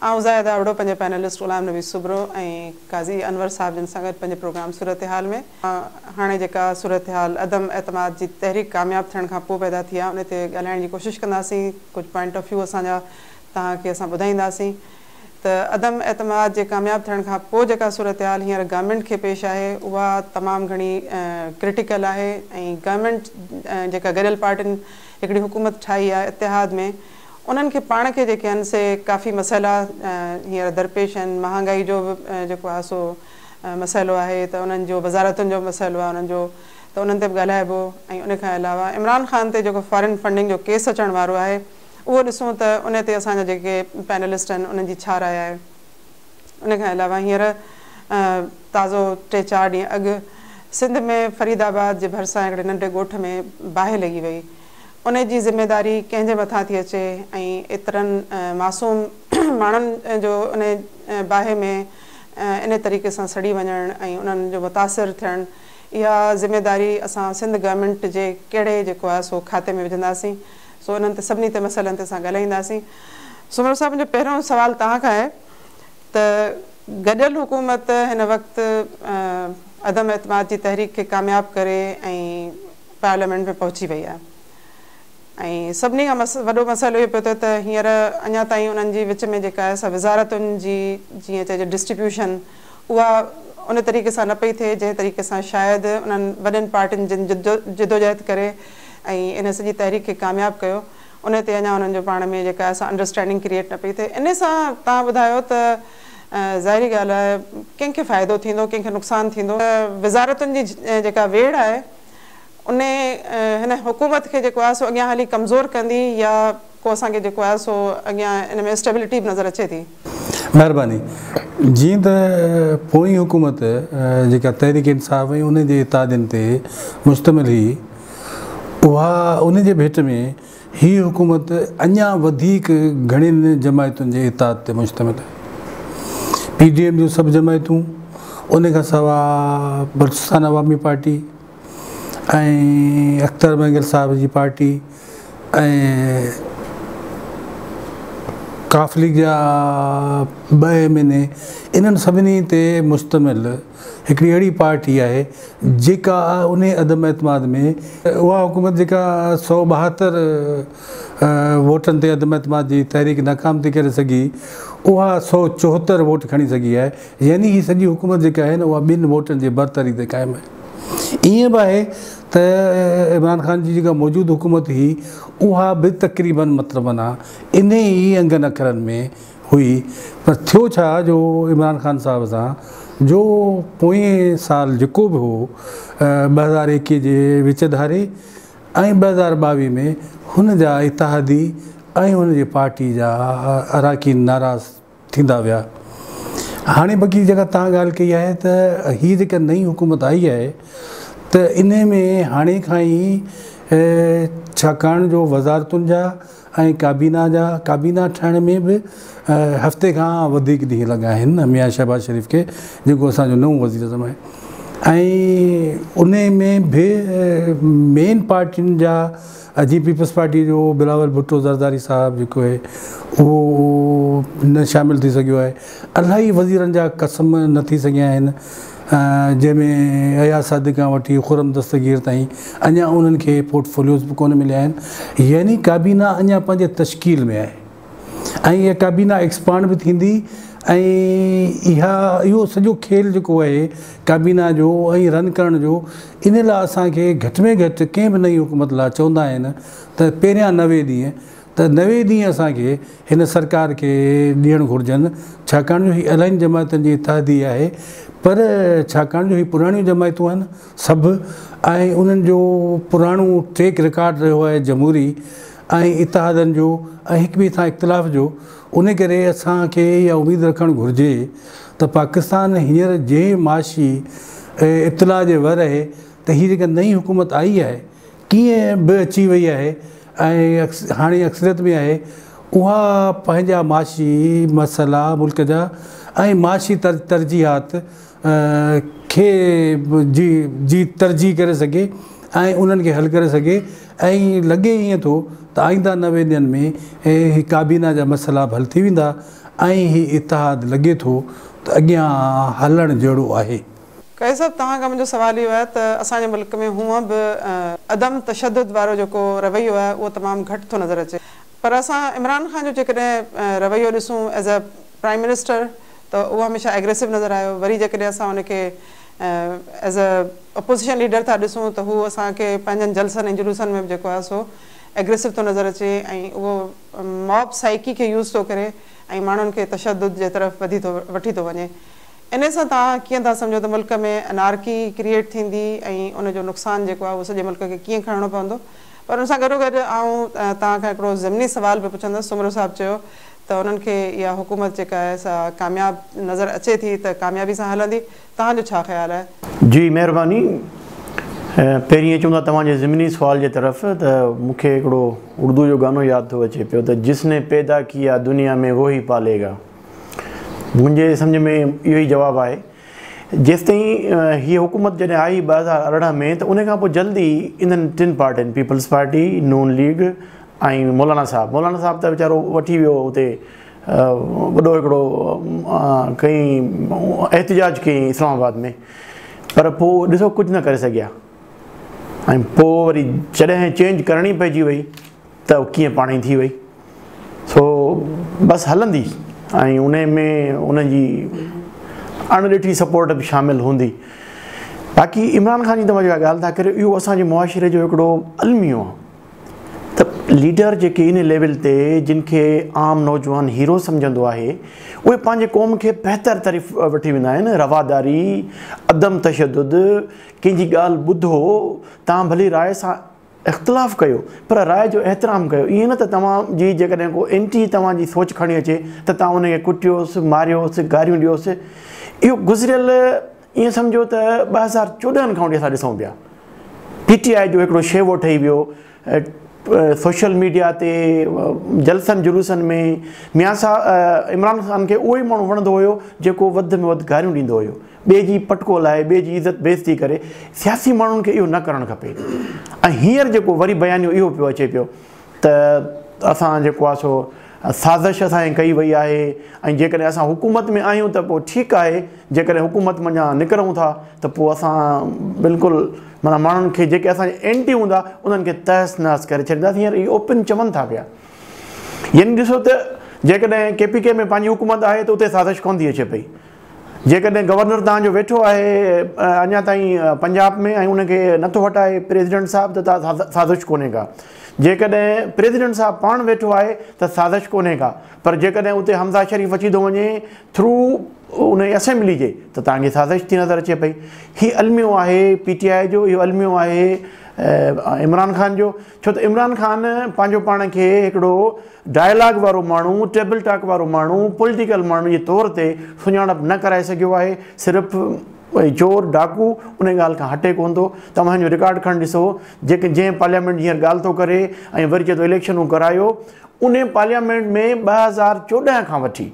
آئون زاهد آبڙو پنهنجي پينلسٽ غلام نبي سوبرو ۽ قاضي انور صاحب جن سان گڏ پنهنجي پروگرام صورتحال ۾ هاڻي جيڪا صورتحال عدم اعتماد جي تحريڪ ڪامياب ٿيڻ کان پوء پيدا ٿي آهي ان تي ڳالهائڻ جي ڪوشش ڪنداسين ڪجهه پوائنٽ آف ويو اسان جا توهان کي اسان ٻڌائينداسين ته عدم اعتماد جي ڪامياب ٿيڻ کان پوء جيڪا صورتحال هينئر گورنمينٽ کي پيش آهي اها تمام گهڻي ڪرٽيڪل آهي ۽ گورنمينٽ جيڪا گڏيل پارٽين هڪڙي حڪومت ٺاهي آهي اتحاد ۾ انهن کي پاڻ کي جيڪي آهن سي ڪافي مسئلا هينئر درپيش آهن، مهانگائي جو به جيڪو آهي سو مسئلو آهي ته انهن جو وزارتن جو به مسئلو آهي انهن جو ته انهن تي به ڳالهائبو ۽ ان کان علاوه عمران خان تي جيڪو فارين فنڊنگ جو ڪيس اچڻ وارو آهي اهو ڏسون ته ان تي اسان جا جيڪي پينلسٽ آهن انهن جي ڇا راء آهي. ان کان علاوه هينئر تازو ٽي چار ڏينهن اڳ سنڌ ۾ فريد آباد جي ڀرسان هڪڙي ننڍي ڳوٺ ۾ باهه لڳي وئي، ان جي ذميداري ڪنهن جي مٿان ٿي اچي ۽ ايترن معصوم ماڻهن جو ان باهه ۾ انهي طريقي سان سڙي وڃڻ ۽ انهن جو متاثر ٿيڻ اها ذميداري اسان سنڌ گورنمينٽ جي ڪهڙي جيڪو آهي سو کاتي ۾ وجهنداسين سو انهن تي سڀني تي مسئلن تي اسان ڳالهائينداسين. سومرو صاحب منهنجو پهريون سوال توهان کان آهي ته گڏيل حڪومت هن وقت عدم اعتماد جي تحريڪ کي ڪامياب ڪري ۽ پارليامينٽ ۾ پهچي وئي آهي ۽ سڀني کان وڏو مسئلو اهو پيو ٿئي ته هينئر اڃا تائين انهن جي وچ ۾ جيڪا سا وزارتن جي جيئن چئجي ڊسٽريبيوشن اها ان طريقي سان نه پئي ٿئي جنهن طريقي سان شايد انهن وڏين پارٽين جن جدوجهد ڪري ۽ ان سڄي تحريڪ کي ڪامياب ڪيو ان تي اڃا انهن جو پاڻ ۾ جيڪا سا انڊرسٽينڊنگ ڪريئيٽ نه پئي ٿئي ان سان توهان ٻڌايو ته ظاهري ڳالهه آهي ڪنهن کي فائدو ٿيندو ڪنهن کي نقصان ٿيندو وزارتن جي جيڪا ويڙهه آهي. ان هن حڪومت کي جيڪو آهي سو اڳيان هلي ڪمزور ڪندي يا ڪو اسان کي جيڪو آهي سو اڳيان ان ۾ اسٽيبلٽي به نظر اچي ٿي. مهرباني. جيئن ته پوئين حڪومت جيڪا تحريڪ انصاف ۽ ان جي اتحادين تي مشتمل هئي اها ان جي ڀيٽ ۾ هي حڪومت اڃا وڌيڪ گهڻين جماعتن جي اتحاد تي مشتمل آهي. پي ڊي ايم جون سڀ جماعتون، ان کان سواء بلوچستان عوامي پارٽي ۽ اختر مينگل صاحب جي پارٽي ۽ ق ليگ جا ٻه ايم اين اي، انهن سڀني تي مشتمل، هڪڙي اهڙي پارٽي آهي جيڪا انهي عدم اعتماد ۾ اها حڪومت جيڪا سؤ ٻاهتر ووٽن تي عدم اعتماد جي تحريڪ ناڪام ٿي ڪري سگهي اها سؤ چوهتر ووٽ کڻي سگهي آهي يعني هي سڄي حڪومت جيڪا آهي نه اها ٻن ووٽن جي برتري تي قائم آهي ائين به آهي ته عمران خان جي جيڪا موجود حڪومت هئي اها به تقريبن مطلب معنيٰ انهي ئي انگن اکرن ۾ هئي پر ٿيو ڇا جو عمران خان صاحب سان جو پوئين سال جيڪو به هو ٻه هزار ايڪيهه جي وچ ڌاري ۽ ٻه هزار ٻاويهه ۾ هن جا اتحادي ۽ هن جي پارٽي جا اراڪين ناراض ٿيندا ويا هاڻي بقي جيڪا تان ڳالهه ڪئي آهي ته هي جيڪا نئين حڪومت آئي آهي ته انهي ۾ هاڻي کان ئي ڇاڪاڻ جو وزارتن جا ۽ ڪابينا جا ڪابينا ٺهڻ ۾ به هفتي کان وڌيڪ ڏينهن لڳا آهن ميان شهباز شريف کي جيڪو اسان جو نئون وزيراعظم آهي ۽ انهي ۾ به مين پارٽين جا جي پيپلز پارٽي جو بلاول ڀٽو زرداري صاحب جيڪو آهي اهو نه شامل ٿي سگهيو آهي الاهي وزيرن جا قسم نه ٿي سگهيا آهن جنهن ۾ اياز صادق کان وٺي خرم دستگير تائين اڃا انهن کي پورٽ فوليوز به ڪونه مليا آهن يعني ڪابينا اڃا پنهنجي تشڪيل ۾ آهي ۽ اها ڪابينا ايڪسپانڊ به ٿيندي ۽ اها اهو سڄو کيل جيڪو آهي ڪابينا جو ۽ رن ڪرڻ جو ان لاء اسان کي گهٽ ۾ گهٽ ڪنهن به نئين حڪومت لاء چوندا آهن ته پهريان نوي ڏينهن ته نوي ڏينهن اسان کي هن سرڪار کي ڏيڻ گهرجن ڇاڪاڻ جو هي الاين جماعتن جي اتحادي آهي پر ڇاڪاڻ جو هي پراڻيون جماعتون آهن سڀ ۽ انهن جو پراڻو ٽريڪ رڪارڊ رهيو آهي جمهوري ۽ اتحادن جو ۽ هڪ ٻئي سان اختلاف جو ان ڪري اسان کي اها اميد رکڻ گهرجي ته پاڪستان هينئر جنهن معاشي اطلاع جي ور اهي ته هي جيڪا نئين حڪومت آئي آهي ڪيئن به اچي وئي آهي ۽ هاڻي اڪثريت ۾ آهي، اها پنهنجا معاشي مسئلا، ملڪ جا ۽ معاشي ترجيحات کي جي جي ترجيح ڪري سگهي ۽ انهن کي حل ڪري سگهي ۽ لڳي ائين ٿو ته آئينده نوي ڏينهن ۾ هي ڪابينا جا مسئلا به حل ٿي ويندا ۽ هي اتحاد لڳي ٿو ته اڳيان هلڻ جهڙو آهي. قيس صاحب توهان کان منهنجو سوال اهو آهي ته اسان جي ملڪ ۾ هونء به عدم تشدد وارو جيڪو رويو آهي اهو تمام گهٽ ٿو نظر اچي پر اسان عمران خان جو جيڪڏهن رويو ڏسون ايز اي پرائيم منسٽر ته اهو هميشه ايگريسو نظر آيو وري جيڪڏهن اسان ان کي ايز اي اپوزيشن ليڊر ٿا ڏسون ته هو اسان کي پنهنجن جلسن ۽ جلوسن ۾ به جيڪو آهي سو ايگريسو ٿو نظر اچي ۽ اهو ماب سائيڪي کي يوز ٿو ڪري ۽ ماڻهن کي تشدد جي طرف وڌي ٿو وٺي ٿو وڃي انهي سان توهان ڪيئن ٿا سمجهو ته ملڪ ۾ انارڪي ڪريئيٽ ٿيندي ۽ ان جو نقصان جيڪو آهي اهو سڄي ملڪ کي ڪيئن کڻڻو پوندو پر ان سان گڏوگڏ آئون توهان کان هڪڙو ضمني سوال به پڇندس سومرو صاحب چيو ته انهن کي اها حڪومت جيڪا آهي سا ڪامياب نظر اچي ٿي ته ڪاميابي سان هلندي توهان جو ڇا خيال آهي؟ جي مهرباني پهرين اچون ٿا توهان جي ضمني سوال جي طرف ته مون کي هڪڙو اردو جو گانو ياد ٿو اچي پيو ته جس ني پيدا ڪيا دنيا مين ووهي پاليگا. منهنجي سمجهه ۾ اهو ئي جواب آهي. جيستائين هيء حڪومت جڏهن آئي ٻه هزار ارڙهن ۾ ته ان کان پوء جلد ئي انهن ٽن پارٽين پيپلز پارٽي، نون ليگ ۽ مولانا صاحب، مولانا صاحب ته ويچارو وٺي ويو اتي وڏو هڪڙو ڪيئي احتجاج ڪيئي اسلام آباد ۾ پر پوء ڏسو ڪجهه نه ڪري سگهيا ۽ پوء وري جڏهن چينج ڪرڻي پئجي وئي. ته ڪيئن پاڻهي ٿي وئي سو بس هلندي ۽ ان ۾ ان جي اڻ ڏٺي سپورٽ به شامل هوندي باقي عمران خان جي توهان جيڪا ڳالهه ٿا ڪريو اهو اسان جي معاشري جو هڪڙو الميو آهي ته ليڊر جيڪي ان ليول تي جن کي عام نوجوان هيرو سمجهندو آهي اهي پنهنجي قوم کي بهتر طرف وٺي ويندا آهن رواداري عدم تشدد ڪنهن جي ڳالهه ٻڌو تان ڀلي راء سان اختلاف ڪيو پر راء جو احترام ڪيو ائين نه ته توهان جي جيڪڏهن ڪو اينٽي توهان جي سوچ کڻي اچي ته توهان ان کي ڪٽيوس ماريوس گاريون ڏيوس اهو گذريل ائين سمجهو ته ٻه هزار چوڏهن کان وٺي اسان ڏسون پيا پي ٽي آء جو هڪڙو شيوو ٺهي ويو سوشل ميڊيا تي جلسن جلوسن ۾ ميان صاحب عمران خان کي اهو ئي ماڻهو وڻندو هيو جيڪو وڌ ۾ وڌ گاريون ڏيندو هيو ٻئي جي پٽڪو لائي، ٻئي جي عزت بيعزتي ڪري، سياسي ماڻهن کي اهو نه ڪرڻ کپي ۽ هينئر جيڪو وري بيانيو اهو پيو اچي پيو ته اسان جيڪو آهي سو سازش اسان جي ڪئي وئي آهي ۽ جيڪڏهن اسان حڪومت ۾ آهيون ته پوء ٺيڪ آهي جيڪڏهن حڪومت منجهان نڪرون ٿا ته پوء اسان بلڪل معنيٰ ماڻهن کي جيڪي اسان جي اينٽي هوندا انهن کي تهس نهس ڪري ڇڏينداسين هينئر اهي اوپن چون ٿا پيا يعني ڏسو ته جيڪڏهن ڪي پي ڪي ۾ پنهنجي حڪومت آهي ته اتي سازش ڪونه ٿي اچي پئي. جيڪڏهن گورنر توهان جو ويٺو آهي اڃا تائين پنجاب ۾ ۽ ان کي نٿو هٽائي پريزيڊنٽ صاحب ته سازش ڪونهي ڪا. جيڪڏهن پريزيڊنٽ صاحب پاڻ ويٺو آهي ته سازش ڪونهي ڪا. پر جيڪڏهن اتي حمزه شريف اچي ٿو وڃي ٿرو انهي اسيمبلي جي ته توهان کي سازش ٿي نظر اچي پئي. هي الميو آهي پي ٽي آء جو اهو الميو آهي عمران خان جو. ڇو ته عمران خان پنهنجو پاڻ کي هڪڙو ڊائلاگ وارو ماڻهو، ٽيبل ٽاڪ وارو ماڻهو، پوليٽيڪل ماڻهو جي طور تي سڃاڻپ نه ڪرائي سگهيو آهي، صرف چور، ڊاڪو انهي ڳالهه کان هٽي ڪونه ٿو، توهان جو رڪارڊ کڻي ڏسو، جيڪي جنهن پارليامينٽ جي هينئر ڳالهه ٿو ڪري ۽ وري چئي ٿو اليڪشنون ڪرايو، انهي پارليامينٽ ۾ ٻه هزار چوڏهن کان وٺي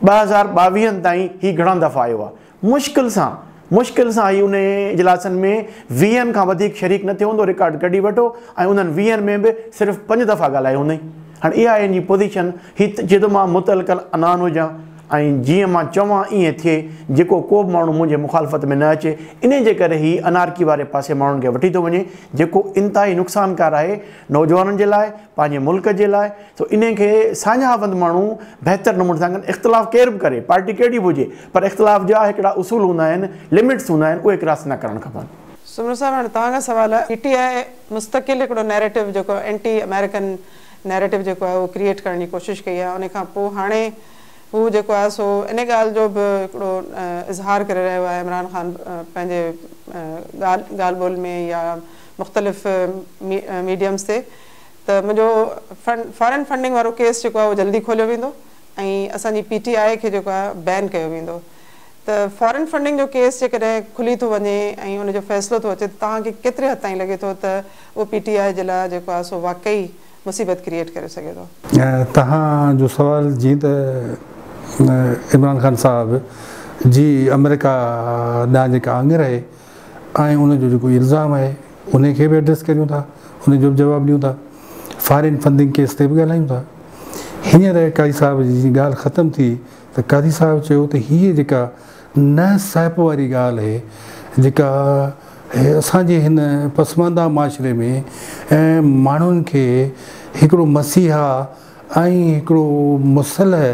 ٻه هزار ٻاويهن تائين هي گهڻا دفعا آيو آهي، مشڪل سان مشڪل سان هي انهي اجلاسن ۾ ويهن کان وڌيڪ شريڪ نه ٿيو هوندو، رڪارڊ ڪڍي وٺو ۽ انهن ويهن ۾ به صرف پنج دفعا ڳالهايو هوندئي. هاڻ اها آهي هنجي پوزيشن، هي ته جي ته مان متعلقل عنان هجان ۽ جيئن مان چوان ايئن ٿئي، جيڪو ڪو به ماڻهو منهنجي مخالفت ۾ نه اچي، انهي جي ڪري هي انارڪي واري پاسي ماڻهن کي وٺي ٿو وڃي، جيڪو انتهائي نقصانڪار آهي نوجوانن جي لاء، پنهنجي ملڪ جي لاء سو انهي کي ساڃاهوند ماڻهو بهتر نموني سان ڪن اختلاف ڪير به ڪري پارٽي ڪهڙي به هجي پر اختلاف جا هڪڙا اصول هوندا آهن لمٽس هوندا آهن اهي ڪراس نه ڪرڻ کپن. سومرو صاحب هاڻي توهان کان سوال آهي پي ٽي آء مستقل هڪڙو نيريٽو جيڪو اينٽي آمريڪن نيريٽو جيڪو آهي اهو ڪريئيٽ ڪرڻ جي ڪوشش ڪئي آهي انهي کان پوء هاڻي هو جيڪو آهي سو انهي ڳالهه جو به هڪڙو اظهار ڪري رهيو آهي عمران خان پنهنجي ڳالهه ٻولهه ۾ يا مختلف ميڊيمز تي ته منهنجو فارن فنڊنگ وارو ڪيس جيڪو آهي اهو جلدي کوليو ويندو ۽ اسان جي پي ٽي آء کي جيڪو آهي بين ڪيو ويندو ته فارن فنڊنگ جو ڪيس جيڪڏهن کلي ٿو وڃي ۽ ان جو فيصلو ٿو اچي ته توهان کي ڪيتري حد تائين لڳي ٿو ته اهو پي ٽي آء جي لاء جيڪو آهي سو واقعي مصيبت ڪريئيٽ ڪري سگهي ٿو. توهان جو سوال جيئن ته عمران خان صاحب جي آمريڪا ڏانهن جيڪا آڱر اهي. ۽ ان جو جيڪو الزام آهي انهي کي به ايڊريس ڪريون ٿا انهي جو به جواب ڏيون ٿا فارين فنڊنگ ڪيس تي به ڳالهايون ٿا هينئر قاضي صاحب جي جي ڳالهه ختم ٿي ته قاضي صاحب چيو ته هيء جيڪا نه سهپ واري ڳالهه اهي جيڪا اسان جي هن پسمانده معاشري ۾ ماڻهن کي هڪڙو مسيحا ۽ هڪڙو مسلح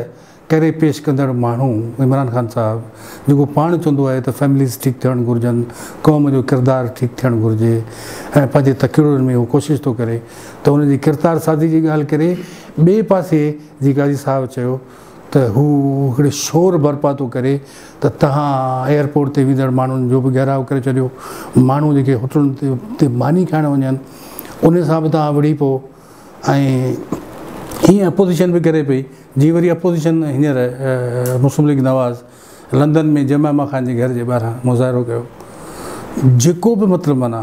ڪري پيش ڪندڙ ماڻهو عمران خان صاحب جيڪو پاڻ چوندو آهي ته فيمليز ٺيڪ ٿيڻ گهرجن، قوم جو ڪردار ٺيڪ ٿيڻ گهرجي ۽ پنهنجي تقررن ۾ هو ڪوشش ٿو ڪري ته ان جي ڪرتار سازي جي ڳالهه ڪري ٻئي پاسي جي قاضي صاحب چيو ته هو هڪڙي شور برپا ٿو ڪري ته تهان ايئرپورٽ تي ويندڙ ماڻهن جو به گهيراء ڪري ڇڏيو ماڻهو جيڪي هوٽلن تي ماني کائڻ وڃن ان سان به تهان وڙهي پئو. ۽ ايئن اپوزيشن به ڪري پئي جي وري اپوزيشن هينئر Muslim League Nawaz London ۾ Jemima Khan جي گهر جي ٻاهران مظاهرو ڪيو جيڪو به مطلب معنيٰ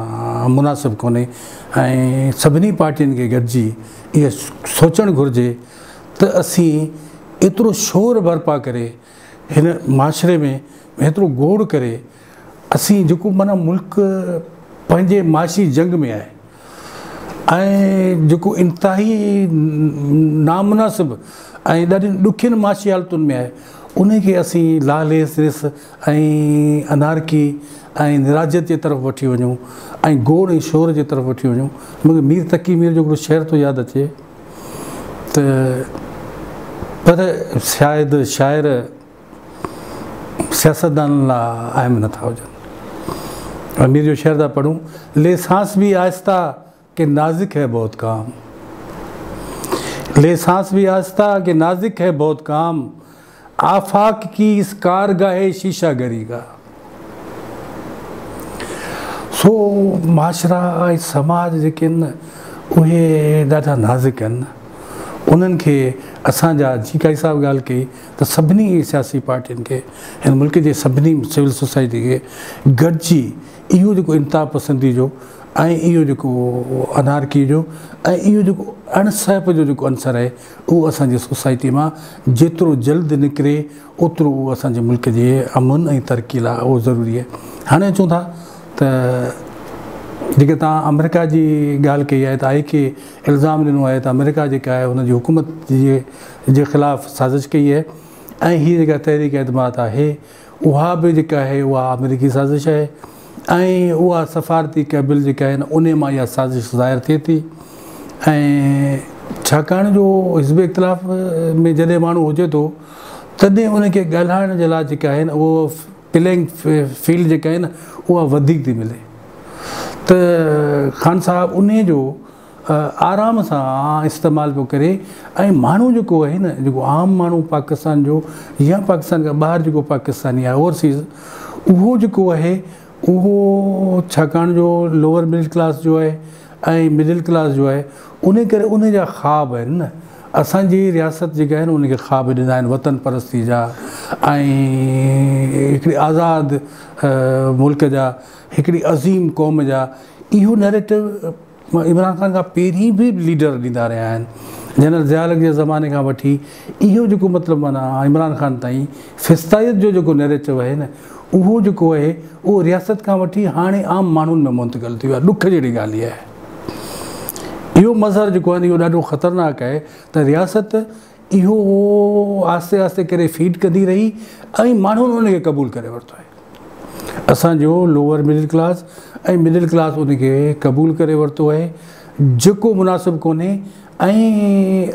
مناسب ڪونهي ۽ سڀني پارٽين کي گڏجي اهو سوچڻ گهرجي ته اسين ايترو شور برپا ڪري هن معاشري ۾ ايترو گوڙ ڪري اسين جيڪو معنيٰ ملڪ پنهنجي معاشي جنگ ۾ آهي ۽ جيڪو انتهائي نامناسب ۽ ڏاڍين ڏکين معاشي حالتن ۾ آهي انهي کي اسين لاليس رس ۽ انارڪي ۽ نراضيت جي طرف وٺي وڃون ۽ گوڙ ۽ شور جي طرف وٺي وڃون مونکي مير تقي مير جو هڪڙو شعر ٿو ياد اچي ته پر شايد شاعر سياستدانن لاء اهم نه ٿا هجن. امير جو شعر ٿا پڙهون، لي سانس ڀي آهسته ڪي نازڪ هي بهت ڪام لي سانس ڀي آهسته ڪي نازڪ هي بهت ڪام آفاق ڪي اس ڪارگاهي شيشه گري ڪا. سو معاشرا ۽ سماج جيڪي آهن اهي ڏاڍا نازڪ آهن انهن کي اسان جا جي ڪائي صاحب ڳالهه ڪئي ته سڀني سياسي پارٽين کي هن ملڪ جي سڀني سول سوسائٽي کي گڏجي اهو جيڪو انتها پسندي جو ۽ اهو جيڪو انارڪي جو ۽ اهو جيڪو اڻ سهپ جو جيڪو عنصر آهي اهو اسان جي سوسائٽي مان جيترو جلد نڪري اوترو اهو اسان جي ملڪ جي امن ۽ ترقي لاء اهو ضروري آهي هاڻي اچون ٿا ته جيڪي توهان آمريڪا جي ڳالهه ڪئي آهي ته آء کي الزام ڏنو آهي ته آمريڪا جيڪا آهي ان جي حڪومت جي خلاف سازش ڪئي آهي ۽ هي جيڪا تحريڪ اعتماد آهي اها به جيڪا آهي اها آمريڪي سازش آهي ۽ اها سفارتي ڪيبل جيڪا آهي ان ان مان اها سازش ظاهر ٿئي ٿي ۽ ڇاڪاڻ جو حزب اختلاف ۾ جڏهن ماڻهو هجي ٿو تڏهن ان کي ڳالهائڻ جي لاء جيڪا آهي نه اهو پلينگ فيلڊ جيڪا آهي نه اها وڌيڪ ٿي ملي ته خان صاحب ان جو آرام سان استعمال پيو ڪري ۽ ماڻهو جيڪو آهي نه جيڪو عام ماڻهو پاڪستان جو يا پاڪستان کان ٻاهر جيڪو پاڪستاني آهي اوورسيز اهو جيڪو آهي اهو ڇاڪاڻ جو لوور مڊل ڪلاس جو آهي ۽ مڊل ڪلاس جو آهي انهي ڪري انهي جا خواب آهن نه اسان جي رياست جيڪي آهي نه انهي کي خواب ڏنا آهن وطن پرستي جا ۽ هڪڙي آزاد ملڪ جا هڪڙي عظيم قوم جا اهو نيريٽو عمران خان کان پهرين به ليڊر ڏيندا رهيا آهن جنرل ضياء الحق جي زماني کان وٺي اهو جيڪو مطلب معنيٰ عمران خان تائين فسطائيت جو جيڪو نيريٽو اهي نه اهو جيڪو اهي اهو رياست کان وٺي هاڻي عام ماڻهن ۾ منتقل ٿي ويو آهي ڏک جهڙي ڳالهه اهي اهو مظهر جيڪو آهي نه اهو ڏاڍو خطرناڪ اهي ته رياست اهو آهستي آهستي ڪري فيڊ ڪندي رهي ۽ ماڻهن ان کي قبول ڪري ورتو آهي. اسان جو lower middle class ۽ middle class ان کي قبول ڪري ورتو آهي جيڪو مناسب ڪونهي ۽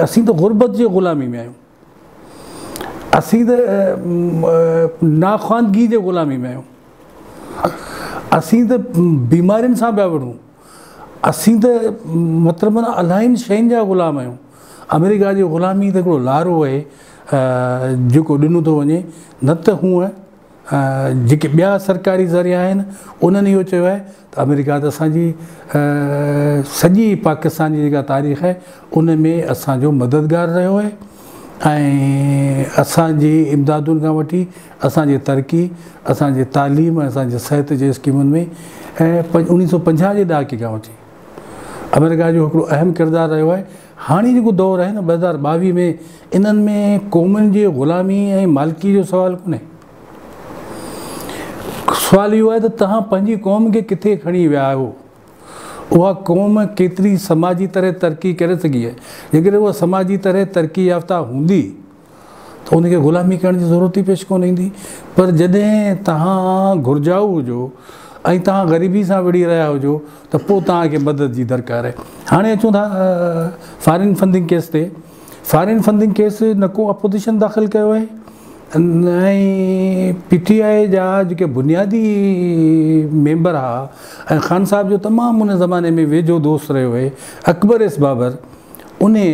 اسين ته غربت جي غلامي ۾ آهيون. اسين ته ناخواندگي جي غلامي ۾ آهيون. اسين ته بيمارين سان پيا وڙهون. اسين ته مطلب الاهين شين جا غلام آهيون. آمريڪا جي غلامي ته هڪڙو لارو آهي جيڪو ڏنو ٿو وڃي نه ته هونء جيڪي ٻيا سرڪاري ذريعا آهن انهن اهو چيو آهي ته آمريڪا ته اسان جي سڄي پاڪستان جي جيڪا تاريخ آهي ان ۾ اسان جو مددگار رهيو آهي. ۽ اسان جي امدادن کان وٺي اسان جي ترقي، اسان جي تعليم ۽ اسان جي صحت جي اسڪيمن ۾ ۽ اڻيهه سؤ پنجاهه جي ڏهاڪي کان وٺي آمريڪا جو هڪڙو اهم ڪردار رهيو آهي. هاڻي جيڪو دور آهي نه ٻه هزار ٻاويهه ۾ انهن ۾ قومن جي غلامي ۽ مالڪي جو سوال ڪونهي. سوال اهو آهي ته توهان پنهنجي قوم کي ڪٿي کڻي ويا آهيو. اها قوم ڪيتري سماجي طرح ترقي ڪري سگهي آهي. جيڪڏهن اها سماجي طرح ترقي يافته هوندي ته ان کي غلامي ڪرڻ جي ضرورت ئي پيش ڪونه ايندي. پر جڏهن توهان گهرجائو هجو ۽ توهان غريبي سان وڙهي رهيا هجو ته پوء توهان کي مدد جي درڪار آهي. هاڻي اچون ٿا فارين فنڊنگ ڪيس تي. فارين فنڊنگ ڪيس نه ڪو اپوزيشن داخل ڪيو آهي نه ئي پي ٽي آء جا جيڪي بنيادي ميمبر ها ۽ خان صاحب جو تمام ان زماني ۾ ويجهو دوست رهيو هي اڪبر ايس بابر انهي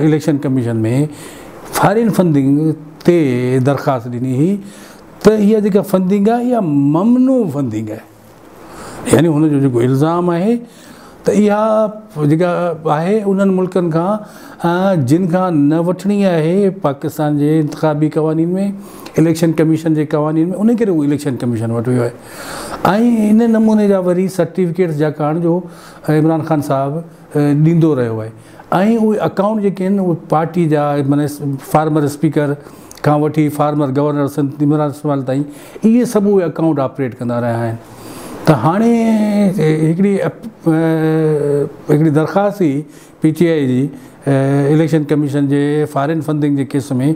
اليڪشن ڪميشن ۾ فارين فنڊنگ تي درخواست ڏني هئي ته اها جيڪا فنڊنگ آهي اها ممنوع فنڊنگ آهي. يعني هن جو جيڪو الزام آهي ته اها جيڪا آهي انهن ملڪن کان جن کان نه وٺڻي آهي پاڪستان جي انتخابي قوانين ۾ اليڪشن ڪميشن جي قوانين ۾ ان ڪري هو اليڪشن ڪميشن وٽ ويو آهي ۽ ان نموني جا وري سرٽيفڪيٽس جا ڪاڻ جو عمران خان صاحب ڏيندو رهيو آهي ۽ اهي اڪائونٽ جيڪي آهن اهي پارٽي جا معنيٰ فارمر اسپيڪر کان وٺي فارمر گورنر سنڌ عمران اسماعيل تائين اهي سڀ اهي اڪائونٽ آپريٽ ڪندا رهيا آهن ته هاڻي هڪڙي هڪڙي درخواست هئي پي ٽي آئي جي اليڪشن ڪميشن جي فارين فنڊنگ جي ڪيس ۾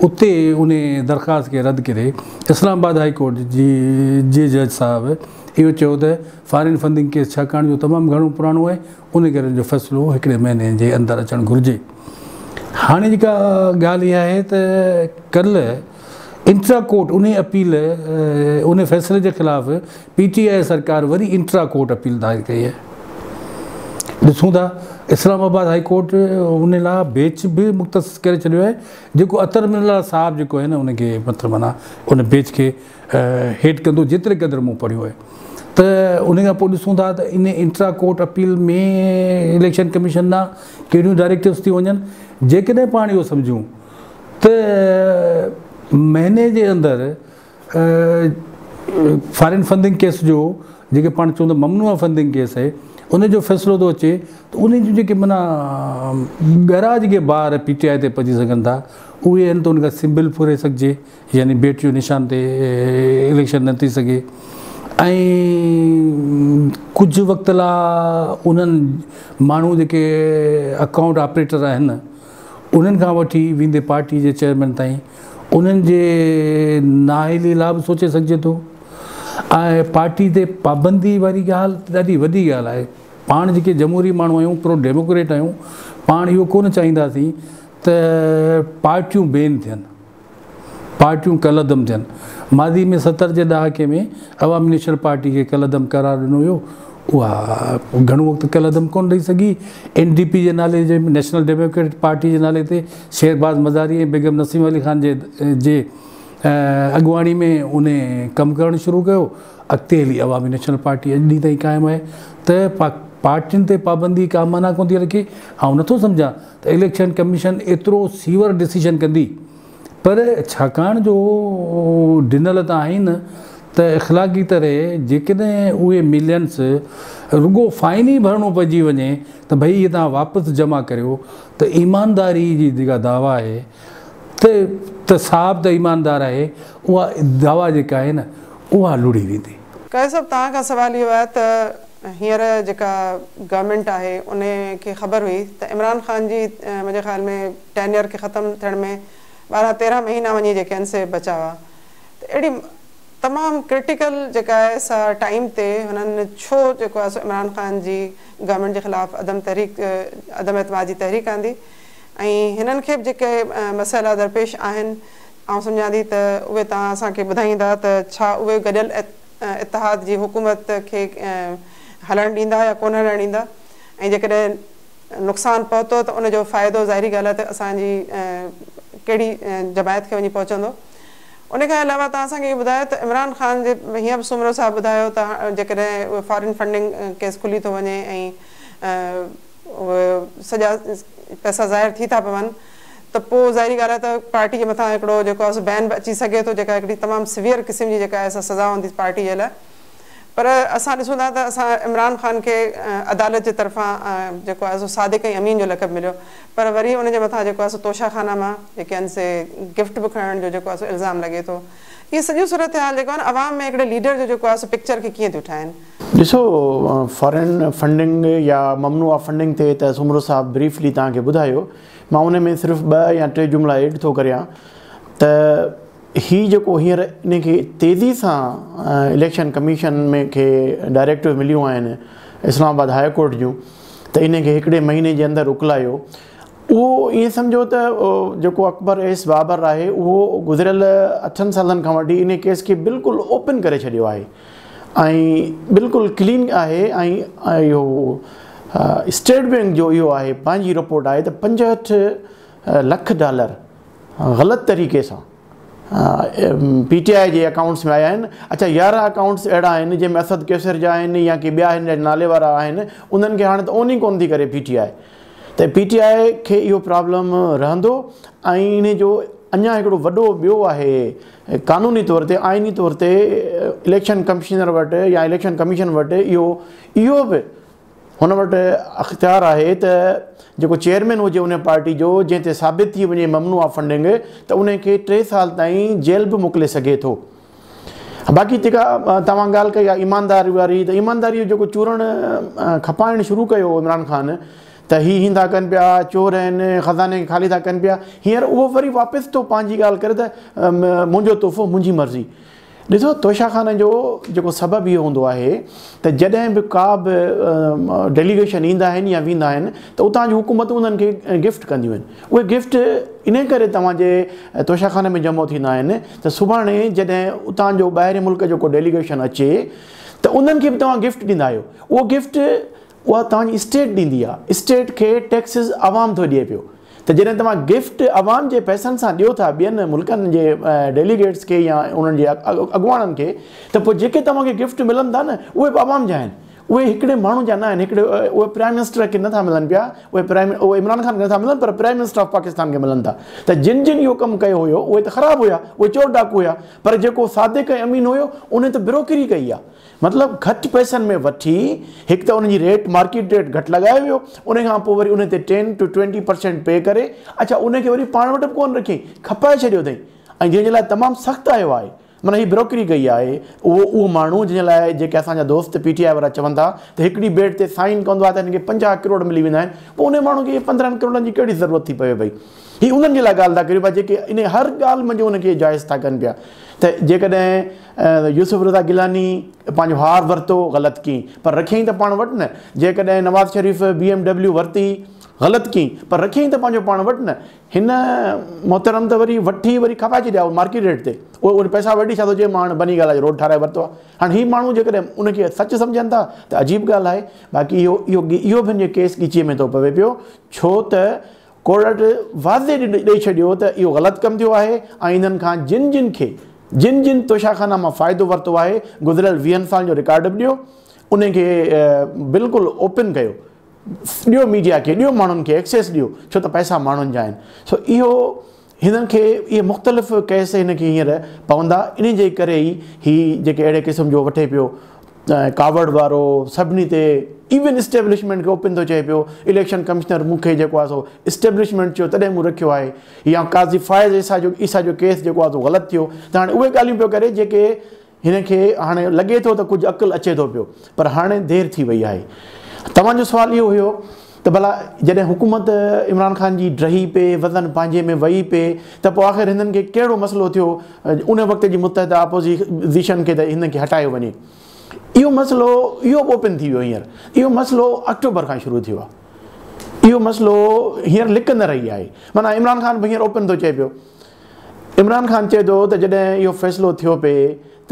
اتي ان درخواست کي رد ڪري اسلام آباد هاء ڪورٽ جي جج صاحب اهو چيو ته فارين فنڊنگ ڪيس ڇاڪاڻ جو تمام گهڻو پراڻو آهي ان ڪري ان جو فيصلو هڪڙي مهيني جي اندر اچڻ گهرجي هاڻي جيڪا ڳالهه اها آهي ته ڪلهه انٽرا ڪورٽ انهي اپيل انهي فيصلي جي خلاف پي ٽي آء سرڪار وري انٽرا ڪورٽ اپيل دائر ڪئي آهي ڏسون ٿا اسلام آباد هائي ڪورٽ ان لاء بيچ به مختص ڪري ڇڏيو آهي جيڪو اطهر من الله صاحب جيڪو آهي نه ان کي مطلب معنيٰ ان بيچ کي هيٺ ڪندو جيتري قدر مون پڙهيو آهي ته ان کان پوء ڏسون ٿا ته ان intra court appeal ۾ election commission ڏانهن ڪهڙيون ڊائريڪٽوز ٿي وڃن جيڪڏهن پاڻ اهو سمجهون ته مهيني جي اندر فارين فنڊنگ ڪيس جو جيڪي پاڻ چون ٿا ممنوع فنڊنگ ڪيس آهي ان جو فيصلو ٿو اچي ته ان جون جيڪي منا ڳرا جيڪي بار پي ٽي آء تي پئجي سگهن ٿا اهي آهن ته ان کان سمبل ڦري سگهجي يعني بيٽ جو نشان تي اليڪشن نه ٿي سگهي ۽ ڪجهه وقت لا انهن ماڻهو جيڪي اڪائونٽ آپريٽر آهن انهن کان وٺي ويندي پارٽي جي چيئرمين تائين انهن جي نااهلي لا به سوچي سگهجي ٿو ۽ پارٽي تي پابندي واري ڳالهه ڏاڍي وڏي ڳالهه آهي پاڻ جيڪي جمهوري ماڻهو آهيون پرو ڊيموڪريٽ آهيون پاڻ اهو ڪونه چاهينداسين ته پارٽيون بين ٿين پارٽيون ڪالعدم ٿين. ماضي ۾ ستر جي ڏهاڪي ۾ عوامي نيشنل پارٽي کي ڪالعدم قرار ڏنو ويو. اها گهڻو وقت ڪالعدم ڪونه رهي سگهي. اين ڊي پي جي نالي جي نيشنل ڊيموڪريٽ پارٽي جي نالي تي شهرباز مزاري ۽ بيگم نسيم علي خان جي جي اڳواڻي ۾ ان ڪم ڪرڻ شروع ڪيو. اڳتي هلي عوامي نيشنل پارٽي اڄ ڏينهن تائين قائم آهي ته پارٽين تي پابندي ڪا معنيٰ ڪونه ٿي رکي. آئون نٿو سمجهان ته اليڪشن ڪميشن ايترو سيور ڊسيشن ڪندي پر ڇاڪاڻ جو ڊنل ته آهن ته اخلاقي طرح جيڪڏهن اهي ملينس رڳو فائن ئي ڀرڻو پئجي وڃي ته ڀئي اهي توهان واپس جمع ڪريو ته ايمانداري جي جيڪا دعويٰ آهي ته ته صاحب ته ايماندار آهي اها دعويٰ جيڪا آهي نه اها لڙي ويندي. قيس صاحب توهان کان سوال اهو آهي ته هينئر جيڪا گورنمينٽ آهي ان کي خبر هئي ته عمران خان جي منهنجي خيال ۾ ٽينيئر کي ختم ٿيڻ ۾ ٻارهن تيرهن مهينا وڃي جي ڪين سي بچا هئا ته اهڙي تمام ڪرٽيڪل جيڪا آهي سا ٽائيم تي هنن ڇو جيڪو آهي سو عمران خان جي گورنمينٽ جي خلاف عدم تحريڪ عدم اعتماد جي تحريڪ آندي ۽ هنن کي به جيڪي مسئلا درپيش آهن آئون سمجهان ٿي ته اهي توهان اسان کي ٻڌائيندا ته ڇا اهي گڏيل اتحاد جي حڪومت کي هلڻ ڏيندا يا ڪونه هلڻ ڏيندا ۽ جيڪڏهن نقصان پهتو ته ان جو فائدو ظاهري ڳالهه آهي ته اسان جي ڪهڙي جماعت کي وڃي پهچندو. ان کان علاوه توهان اسان کي اهو ٻڌايو ته عمران خان جي هينئر به سومرو صاحب ٻڌايو ته جيڪڏهن اهو فارين فنڊنگ ڪيس کلي ٿو وڃي ۽ اهي سڄا پئسا ظاهر ٿي ٿا پون ته پوء ظاهري ڳالهه آهي ته پارٽي جي مٿان هڪڙو جيڪو آهي سو بين به اچي سگهي ٿو جيڪا هڪڙي تمام سويئر قسم جي جيڪا آهي سا سزا هوندي پارٽي جي لاء پر اسان ڏسون ٿا ته اسان عمران خان کي عدالت جي طرفان جيڪو آهي سو صادق ۽ امين جو لقب مليو پر وري ان جي مٿان جيڪو آهي سو توشه خانه مان جيڪي آهن سي گفٽ به کڻڻ جو جيڪو آهي سو الزام لڳي ٿو اهي سڄيون صورتحال جيڪو آهن عوام ۾ هڪڙي ليڊر جو جيڪو آهي سو پڪچر کي ڪيئن ٿيون ٺاهن. ڏسو فارين فنڊنگ يا ممنوعه فنڊنگ تي ته سومرو صاحب بريفلي توهان کي ٻڌايو مان ان ۾ صرف ٻه يا ٽي جملا ايڊ ٿو ڪريان ته هي جيڪو هينئر ان کي تيزي سان اليڪشن ڪميشن ۾ کي ڊائريڪٽو مليون آهن اسلام آباد هاء ڪورٽ جون ته ان کي هڪڙي مهيني جي اندر اڪلايو اهو ائين سمجهو ته جيڪو اڪبر ايس بابر آهي اهو گذريل اٺن سالن کان وٺي ان ڪيس کي بلڪل اوپن ڪري ڇڏيو آهي ۽ بلڪل ڪلين آهي ۽ اهو اسٽيٽ بينڪ جو اهو آهي پنهنجي رپورٽ آهي ته پنجهٺ لک ڊالر غلط طريقي سان پي ٽي آء جي اڪائونٽس ۾ آيا آهن اڇا يارهن اڪائونٽس اهڙا آهن جنهن ۾ اسد قيصر جا آهن يا ڪي ٻيا هن جا نالي وارا آهن انهن کي هاڻي ته اون ئي ڪون ٿي ڪري پي ٽي آء ته پي ٽي آء کي اهو پرابلم رهندو ۽ انهي جو اڃا هڪڙو وڏو ٻيو آهي قانوني طور تي آئيني طور تي اليڪشن ڪمشنر وٽ يا اليڪشن ڪميشن وٽ اهو اهو به هن وٽ اختيار آهي ته جيڪو چيئرمين هجي انهي پارٽي جو جنهن تي ثابت ٿي وڃي ممنوعه فنڊنگ ته انهي کي ٽي سال تائين جيل به موڪلي سگهي ٿو. باقي جيڪا توهان ڳالهه ڪئي آهي ايمانداري واري ته ايمانداري جو جيڪو چورڻ کپائڻ شروع ڪيو هو عمران خان ته هي هين ٿا ڪن پيا چور آهن خزاني کي خالي ٿا ڪن پيا هينئر اهو وري واپس ٿو پنهنجي ڳالهه ڪري ته منهنجو تحفو منهنجي مرضي ڏسو توشا خان جو جيڪو سبب اهو هوندو آهي ته جڏهن به ڪا به ڊيليگيشن ايندا آهن يا ويندا آهن ته اتان جون حڪومتون انهن کي گفٽ ڪنديون آهن اهي گفٽ ان ڪري توهان جي توشا خان ۾ جمع ٿيندا آهن ته سڀاڻي جڏهن اتان جو ٻاهرين ملڪ جو ڪو ڊيليگيشن اچي ته انهن کي به توهان گفٽ ڏيندا آهيو اهو گفٽ اها توهان جي اسٽيٽ ڏيندي آهي اسٽيٽ کي ٽيڪسز عوام ٿو ڏئي پيو ته جڏهن توهان گفٽ عوام جي پئسن سان ڏيو ٿا ٻين ملڪن جي ڊيليگيٽس کي يا انهن جي اڳواڻن کي ته پوء جيڪي توهان کي گفٽ ملن ٿا نه اهي به عوام جا آهن اهي هڪڙي ماڻهو جا نه آهن هڪڙي اهي پرائيم منسٽر کي نٿا ملن پيا اهي پرائيم اهي عمران خان کي نٿا ملن پر پرائيم منسٽر آف پاڪستان کي ملن ٿا ته جن جن اهو ڪم ڪيو هيو اهي ته خراب هيا اهي چور ڊاڪو هيا پر جيڪو صادق ۽ امين هيو انهي ته بروڪري ڪئي آهي مطلب گهٽ پئسن ۾ وٺي هڪ ته انهن جي ريٽ مارڪيٽ ريٽ گهٽ لڳايو ويو انهي کان پوء وري انهي تي ٽين ٽو ٽوئنٽي پرسينٽ پي ڪري اڇا انهي کي وري پاڻ وٽ به ڪونه رکيائين کپائي ڇڏيو اٿئي ۽ جنهن جي لاء تمام سخت آيو آهي من هي بروڪري ڪئي آهي اهو اهو ماڻهو جنهن لاء جيڪي اسان جا دوست پي ٽي آء وارا چون ٿا ته هڪڙي بيڊ تي سائين ڪندو آهي ته هن کي پنجاهه ڪروڙ ملي ويندا آهن پوء انهي ماڻهو کي پندرهن ڪروڙن جي ڪهڙي ضرورت ٿي پوي پئي هي انهن جي لاء ڳالهه ٿا ڪريون پيا جيڪي انهي هر ڳالهه منجهه ان کي جائز ٿا ڪن پيا ته جيڪڏهن يوسف رضا گيلاني پنهنجو هار ورتو غلط ڪئي پر رکيائين ته پاڻ وٽ نه جيڪڏهن Nawaz Sharif B M W ورتي غلط ڪئي پر رکيائين ته پنهنجو پاڻ وٽ نه هن محترم ته وري وٺي وري کپائي ڇڏيا هو مارڪيٽ ريٽ تي اهو وري پئسا وٺي ڇا ٿو چئي مان هاڻي بني گالا جو روڊ ٺاهرائي ورتو آهي هاڻي هي ماڻهو جيڪڏهن ان کي سچ سمجهن ٿا ته عجيب ڳالهه آهي باقي اهو اهو اهو به هن جو ڪيس ڳچيء ۾ ٿو پوي پيو ڇو ته ڪورٽ واضح ڏئي ڇڏيو ته اهو غلط ڪم ٿيو آهي ۽ انهن کان جن جن کي جن جن توشاخانا مان فائدو ورتو آهي گذريل ويهن سالن جو رڪارڊ به ڏيو انهي کي بلڪل اوپن ڪيو ڏيو ميڊيا کي ڏيو ماڻهن کي ايڪسيس ڏيو ڇو ته پئسا ماڻهن جا آهن سو اهو هنن کي اهي مختلف ڪيس هن کي هينئر پوندا انهي جي ڪري ئي هي جيڪي اهڙي قسم جو وٺي پيو ڪاوڙ وارو سڀني تي ايون اسٽيبلشمينٽ کي اوپن ٿو چئي پيو اليڪشن ڪمشنر مون کي جيڪو آهي سو اسٽيبلشمينٽ چيو تڏهن مون رکيو آهي يا قاضي فائز عيسيٰ جو عيسيٰ جو ڪيس جيڪو آهي سو غلط ٿيو ته هاڻي اهي ڳالهيون پيو ڪري جيڪي هن کي هاڻي لڳي ٿو ته ڪجهه عقل اچي ٿو پيو پر هاڻي دير ٿي وئي آهي. توهان جو سوال اهو هيو ته ڀلا جڏهن حڪومت عمران خان جي ڊهي پئي، وزن پنهنجي ۾ وهي پئي ته پوء آخر هندن کي ڪهڙو مسئلو ٿيو ان وقت جي متحده آپوزيشن کي ته هندن کي هٽايو وڃي. اهو مسئلو اهو اوپن ٿي ويو هينئر. اهو مسئلو آڪٽوبر کان شروع ٿيو آهي. اهو مسئلو هينئر لڪ نه رهي آهي. معنيٰ عمران خان به هينئر اوپن ٿو چئي پيو. عمران خان چئي ٿو ته جڏهن اهو فيصلو ٿيو پئي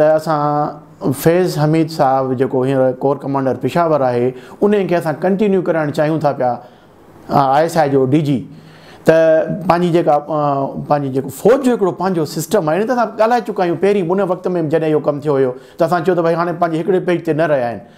ته اسان فيض حميد صاحب جيڪو هينئر ڪور ڪمانڊر پشاور آهي انهي کي اسان ڪنٽينيو ڪرائڻ چاهيون ٿا پيا آء ايس آء جو ڊي جي ته پنهنجي جيڪا پنهنجي جيڪو فوج جو هڪڙو پنهنجو سسٽم آهي ته اسان ڳالهائي چڪا آهيون پهرين ان وقت ۾ جڏهن اهو ڪم ٿيو هيو ته اسان چيو ته ڀائی هاڻي پنهنجي هڪڙي پيج تي نه رهيا آهن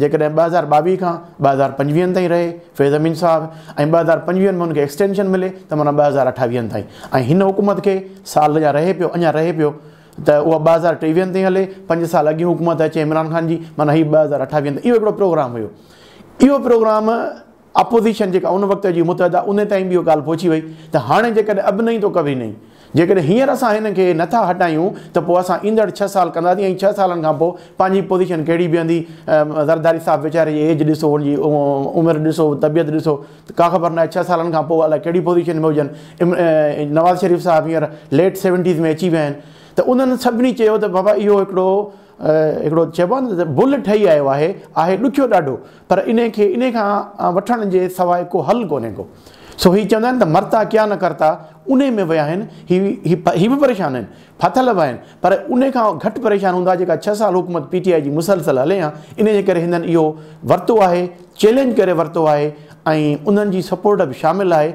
جيڪڏهن ٻه هزار ٻاويهه کان ٻه هزار پنجويهن تائين رهي فيض امين صاحب ۽ ٻه هزار پنجويهن ۾ ان کي ايڪسٽينشن ملي ته معنيٰ ٻه هزار اٺاويهن تائين ۽ هن حڪومت کي سال يا رهي پيو اڃا رهي پيو ته اها ٻه هزار ٽيويهن تائين هلي پنج سال اڳين حڪومت اچي عمران خان جي معنيٰ هي ٻه هزار اٺاويهن تائين اهو هڪڙو پروگرام هيو اهو پروگرام اپوزيشن جيڪا ان وقت جي متحده انهي تائين به اهو ڳالهه پهچي وئي ته هاڻي جيڪڏهن اب نهين تو ڪڀي نهين جيڪڏهن هينئر اسان هنن کي نه ٿا هٽايون ته پوء اسان ايندڙ ڇهه سال ڪنداسين ۽ ڇهه سالن کان پوء پنهنجي پوزيشن ڪهڙي بيهندي زرداري صاحب ويچاري جي ايج ڏسو ان جي عمر ڏسو طبيعت ڏسو ته ڪا خبر ناهي ڇهه سالن کان پوء الاء ڪهڙي پوزيشن ۾ هجن نواز شريف صاحب هينئر ليٽ سيونٽيز ۾ اچي ويا آهن ته انهن سڀني چيو ته بابا اهو هڪڙو هڪڙو چئبو آهي نه ته بل ٺهي آيو آهي آهي ڏکيو ڏاڍو پر انهي کي انهي کان وٺڻ جي سواء ڪو حل ڪونهي ڪو. سو هي چوندا آهن ته مرتا ڪيا نه ڪرتا انهي ۾ ويا آهن. هي هي به پريشان آهن، ڦاٿل به آهن پر انهي کان گهٽ پريشان هوندا جيڪا ڇهه سال حڪومت پي ٽي آء جي مسلسل هلي ها. انهي جي ڪري هندن اهو ورتو آهي، چئلينج ڪري ورتو آهي ۽ انهن جي سپورٽ به شامل آهي.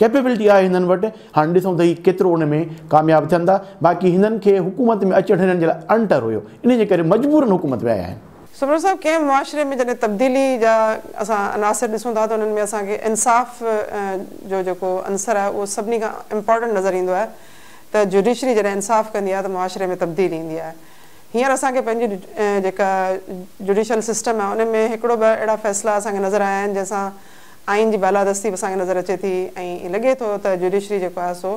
ڪيپيبلٽي آهي هنن وٽ هاڻ ڏسون ته هي ڪيترو ان ۾ ڪامياب ٿين ٿا باقي هنن کي حڪومت ۾ اچڻ هنن جي لاء اڻٽر هيو انهي جي ڪري مجبورن حڪومت ۾ آيا آهن. سمرو صاحب ڪنهن معاشري ۾ جڏهن تبديلي جا اسان عناصر ڏسون ٿا ته انهن ۾ اسان کي انصاف جو جيڪو عنصر آهي اهو سڀني کان امپارٽنٽ نظر ايندو آهي ته جوڊيشري جڏهن انصاف ڪندي آهي ته معاشري ۾ تبديلي ايندي آهي هينئر اسان کي پنهنجي جيڪا جوڊيشل سسٽم آهي ان ۾ هڪڙو ٻه اهڙا فيصلا اسان کي نظر آيا آهن جنهن سان آئين جي بالادستي به اسان کي نظر اچي ٿي ۽ ائين لڳي ٿو ته جوڊيشري جيڪو آهي سو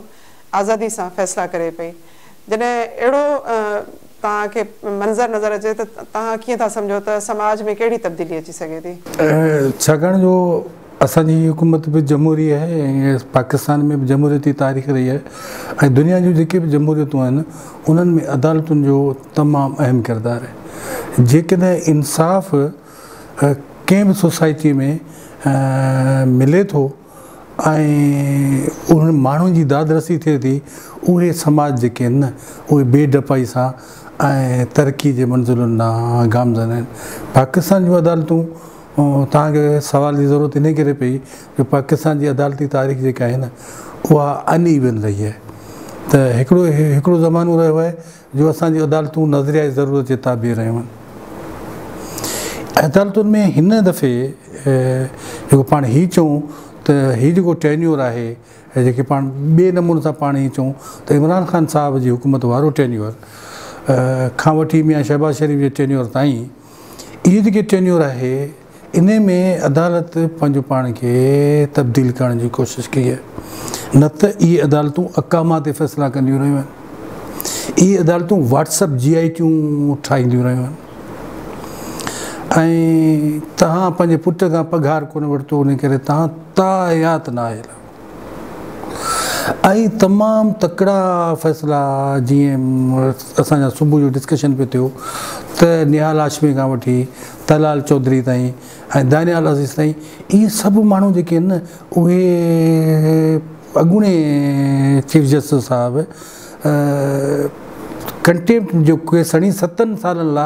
آزادي سان فيصلا ڪري پئي. جڏهن اهڙو توهان کي منظر نظر اچي ته توهان ڪيئن ٿا سمجهو ته سماج ۾ ڪهڙي تبديلي اچي سگهي ٿي؟ ڇاڪاڻ جو اسان جي هي حڪومت به جمهوري آهي ۽ پاڪستان ۾ به جمهوريتي تاريخ رهي آهي ۽ دنيا جون جيڪي به جمهوريتون آهن انهن ۾ عدالتن جو تمام اهم ڪردار آهي. جيڪڏهن انصاف ڪنهن به سوسائٽي ۾ ملي ٿو ۽ انهن ماڻهن جي داد رسي ٿئي ٿي اهي سماج جيڪي آهن نه اهي بي ڊپائي سان ۽ ترقي جي منزلن ڏانهن گامزن آهن پاڪستان جون عدالتون تان کي سوال جي ضرورت انهي ڪري پئي جو پاڪستان جي عدالتي تاريخ جيڪا آهي نه اها ان ايون رهي آهي ته هڪڙو هڪڙو زمانو رهيو آهي جو اسان جون عدالتون نظريائي ضرورت جي تابع رهيون آهن. عدالتن ۾ هن دفعي جيڪو پاڻ هي چئون ته هي جيڪو ٽينيور آهي ۽ جيڪي پاڻ ٻئي نموني سان پاڻ هي چئون ته عمران خان صاحب جي حڪومت وارو ٽينيور کان وٺي ميان شهباز شريف جي ٽينيور تائين، اهي جيڪي ٽينيور آهي انهي ۾ عدالت پنهنجو پاڻ کي تبديل ڪرڻ جي ڪوشش ڪئي آهي نه ته اهي عدالتون اقاما تي فيصلا ڪنديون رهيون آهن اهي عدالتون واٽس اپ جي آئي ٽيون ٺاهينديون رهيون آهن ۽ توهان پنهنجي پٽ کان پگهار ڪونه ورتو انهي ڪري توهان تاحيات نااهل آهيو. اهي تمام تڪڙا فيصلا جيئن اسان جا صبح جو ڊسڪشن پي ٿيو ته نهال هاشمي کان وٺي طلال چوڌري تائين ۽ دانيال عزيز تائين اهي سڀ ماڻهو جيڪي آهن نه اهي اڳوڻي چيف جسٽس صاحب ڪنٽيمپٽ جو ڪيس هڻي ستن سالن لا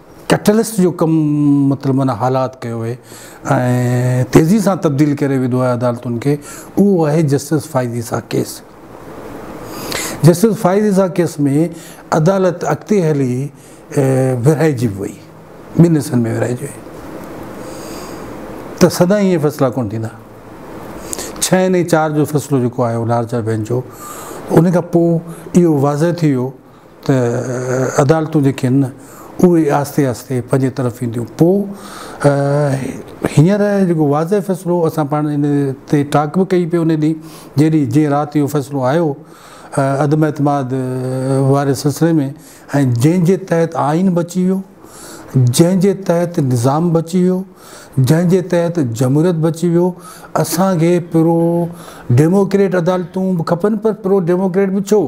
ڪئٽلسٽ جو ڪم مطلب معنيٰ حالات ڪيو اهي ۽ تيزي سان تبديل ڪري وڌو آهي عدالتن کي اهو آهي justice Faiz Isa case justice Faiz Isa case ۾ عدالت اڳتي هلي ورهائجي به وئي ٻن حصن ۾ ورهائجي وئي ته سدا ائين فيصلا ڪون ٿيندا ڇهن ۽ چار جو فيصلو جيڪو آيو لارجر بينچ جو ان کان پوء اهو واضح ٿي ويو ته عدالتون جيڪي آهن اهي آهستي آهستي پنهنجي طرف اينديون پوء هينئر جيڪو واضح فيصلو اسان پاڻ ان تي ٽاڪ به ڪئي پئي ان ڏينهن جنهن ڏينهن جيئن رات اهو فيصلو آيو عدم اعتماد واري سلسلي ۾ ۽ جنهن جي تحت آئين بچي ويو جنهن جي تحت نظام بچي ويو، جنهن جي تحت جمهوريت بچي ويو، اسان کي پرو ڊيموڪريٽ عدالتون به کپن پر پرو ڊيموڪريٽ به ڇو